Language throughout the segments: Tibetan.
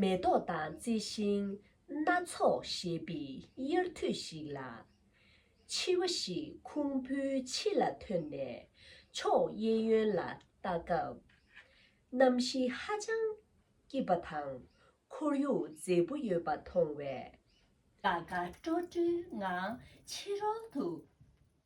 མེ་ཏོག་དང་རྩི་ཤིང་སྣ་ཚོགས་བཞད་པའི་དབྱར་དུས་ཤིག་ལ། འཕྱི་བ་ཞིག་ཁུང་བུའི་ཕྱི་ལ་ཐོན་ནས་ཕྱོགས་གཡས་གཡོན་ལ་ལྟ་སྐབས། གནམ་གཤིས་ཧ་ཅང་སྐྱིད་པ་དང་ཁོར་ཡུག་མཛེས་པོ་ཡོད་པ་མཐོང་བས། དགའ་དགའ་སྤྲོ་སྤྲོའི་ངང་ཕྱི་རོལ་དུ་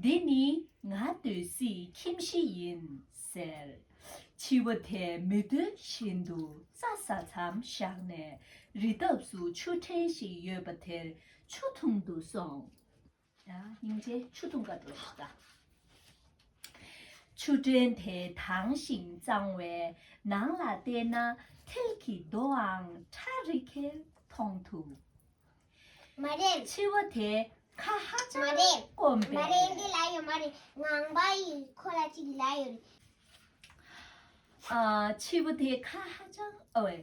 འདི་ནི་ང་སྡོད་སྲིད་ཁྱིམ་གཞི་ཡིན་ཟེར། འཆི་བ་དེ་མི་སྡོད་བཞིན་དུ་རྩྭ་ས་མཚམས་བཞག་ནས་རི་འདབས་སུ་ཆུ་ཕྲན་ཞིག་ཡོད་པ་དེར་ཆུ་འཐུང་དུ་སོང། སྙིང་རྗེ་ཆུ་འཐུང་ག་འགྲོ་ཞིག་དང། ཆུ་ཕྲན་དེ་དྭངས་ཤིང་གཙང་བས་ནང་ལ་བལྟས་ན་མཐིལ་གྱི་རྡོའང་ཁྲ་རི་གས་མཐོང་ཐུབ། མ་རེད། འཆི་བ་དེ་ཁ་ཧ་ཅང་སྐོམ་པས། མ་རེད། མ་རེད་འདི་ལ་ཡོད་མ་རེད། ངང་པ་ཡིས་ཁོ་ལ་ཅིག་ལ་ཡོད་རེད། འཆི་བ་དེ་ཁ་ཧ་ཅང་ཨོའི།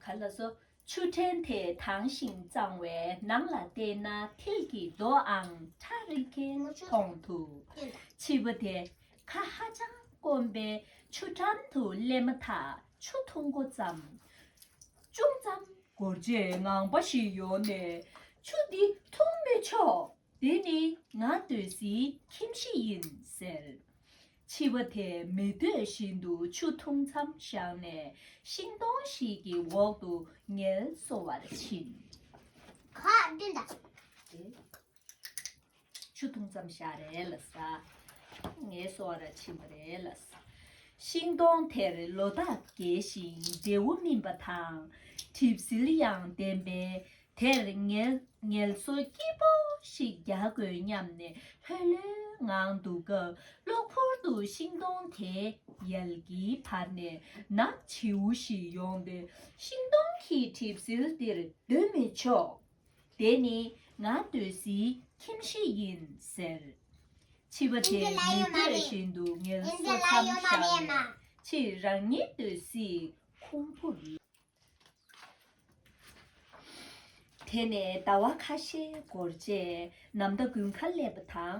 ག་ལ་སོ། ཆུ་ཕྲན་དེ་དྭངས་ཤིང་གཙང་བས་ནང་ལ་བལྟས་ན་མཐིལ་གྱི་རྡོ་ཨང་ཁྲ་རིལ་མཁན་མཐོང་ཐུབ། འཆི་བ་དེ་ཁ་ཧ་ཅང་སྐོམ་པས་ཆུ་འགྲམ་དུ་སླེབས་མ་ཐག་ཆུ་འཐུང་མགོ་བརྩམས། ཅུང་ཙམ་འགོར་རྗེས་ངང་པ་ཞིག་ཡོང་ནས་ཆུ་འདི་འཐུང་མི་ཆོག་དེ་ནི་ང་སྡོད་སའི་ཁྱིམ་གཞི་ཡིན་ཟེར། འཆི་བ་དེ་མི་སྡོད་བཞིན་དུ་ཆུ་འཐུང་མཚམས་བཞག་ནས་ཤིང་སྡོང་ཞིག་གི་འོག་ཏུ་ངལ་གསོ་བར་ཕྱིན། གང་ལྟོས་དང། ཆུ་འཐུང་ཙམ་བཞག་རེ་ལ་ཟ། ངལ་གསོ་བ་ར་ཕྱིན་པ་རེ་ལ་ཟ། ཤིང་སྡོང་དེར་ལོ་རྟགས་རྒྱས་ཤིང་འབྲས་བུ་སྨིན་པ་དང། གྲིབ་ཟིལ་ཡང་ལྡན་པས་དེར་ངལ་གསོ་སྐྱིད་པོ་ཞིག་རྒྱག་དགོས་སྙམ་ནས་ལྷོད་ལྷོད་ངང་འདུག་སྐབས་གློ་བུར་དུ་ཤིང་སྡོང་དེའི་ཡལ་གྱི་བར་ནས་ནག་བྱིའུ་ཞིག་ཡོང་སྟེ་ཤིང་སྡོང་གི་གྲིབ་ཟིལ་འདིར་སྡོད་མི་ཆོག། དེ་ནི་ང་འདོད་སྲིད་ཁྱིམ་གཞི་ཡིན་ཟེར། འཆི་བ་དེ་མི་འདོད་བཞིན་དུ་ངལ་གསོ་མཚམས་བཞག་ནས་ཕྱིར་རང་ཉིད་འདོད་སྲིད་ཁུང་བུར་ལོག། དེ་ནས་ཟླ་བ་ཁ་ཤས་འགོར་རྗེས་ནམ་ཟླ་དགུན་ཁ་སླེབས་པ་དང་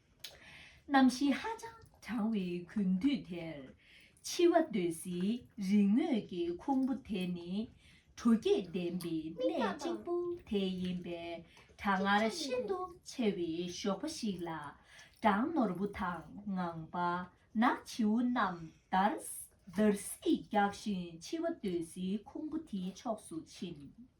གནམ་གཤིས་ཧ་ཅང་གྲང་བའི་དགུན་དུས་དེར། འཆི་བ་འདོད་སྲིད་རིག་དངོས་ཀྱི་ཁུང་བུ་དེ་ནི། དྲོ་སྐྱིད་ལྡན་པའི་གནས་གཅིག་པུ་དེ་ཡིན་པས་གྲང་ངར་ཤིན་ཏུ་ཆེ་བའི་ཞོགས་པ་ཞིག་ལ། སྦྲང་ནོར་བུ་དང་ངང་པ་ན་བྱིའུ་རྣམས་འདར་སིག་རྒྱག་བཞིན་འཆི་བ་འདོད་སྲིད་ཁུང་བུ་དེའི་ཕྱོགས་སུ་ཕྱིན།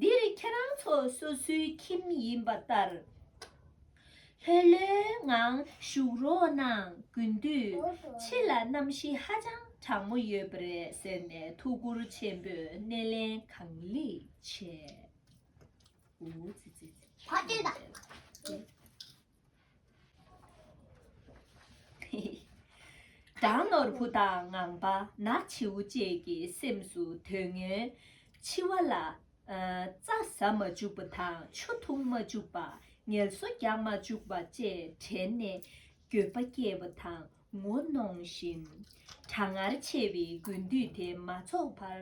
འདིར་ཁྱེད་རང་ཚོ་སོ་སོའི་ཁྱིམ་ཡིན་པ་ལྟར་ལྷོད་ལྷོད་ངང་བཞུགས་རོགས་གནང་དགོས་དུས་ཕྱི་ལ་གནམ་གཤིས་ཧ་ཅང་གྲང་མོ་ཡོད་པ་རེད་ཟེར་ནས་ཐུགས་ཁུར་ཆེན་པོས་སྣེ་ལེན་གང་ལེགས་བྱས། སྦྲང་ནོར་བུ་དང་ངང་པ་ནག་བྱེའུ་བཅས་ཀྱི་སེམས་སུ་དོན་ངན། འཆི་བ་ལ། རྩྭ་ཟ་མ་བཅུག་པ་དང་ཆུ་འཐུང་མ་བཅུག་པ་ངལ་གསོ་རྒྱག་མ་བཅུག་པ་བཅས་དྲན་ནས་འགྱོད་པ་སྐྱེས་པ་དང་ངོ་གནོང་བཞིན། གྲང་ངར་ཆེ་བའི་དགུན་དུས་དེ་མ་འཚོགས་བར་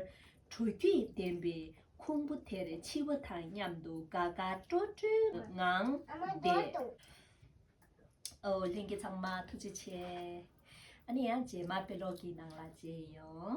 དྲོ་སྐྱིད་ལྡན་པའི་ཁུང་བུ་དེར་འཆི་བ་དང་མཉམ་དུ་དགའ་དགའ་སྤྲོ་སྤྲོའི་ངང་བསྡད། ཨོའོ་ལྷན་རྒྱས་ཚང་མ་ཐུགས་རྗེ་ཆེ། ཨ་ནི་ཡང་རྗེས་མར་དཔེ་ཀློག་གི་ནང་ལ་མཇལ་ཡོང།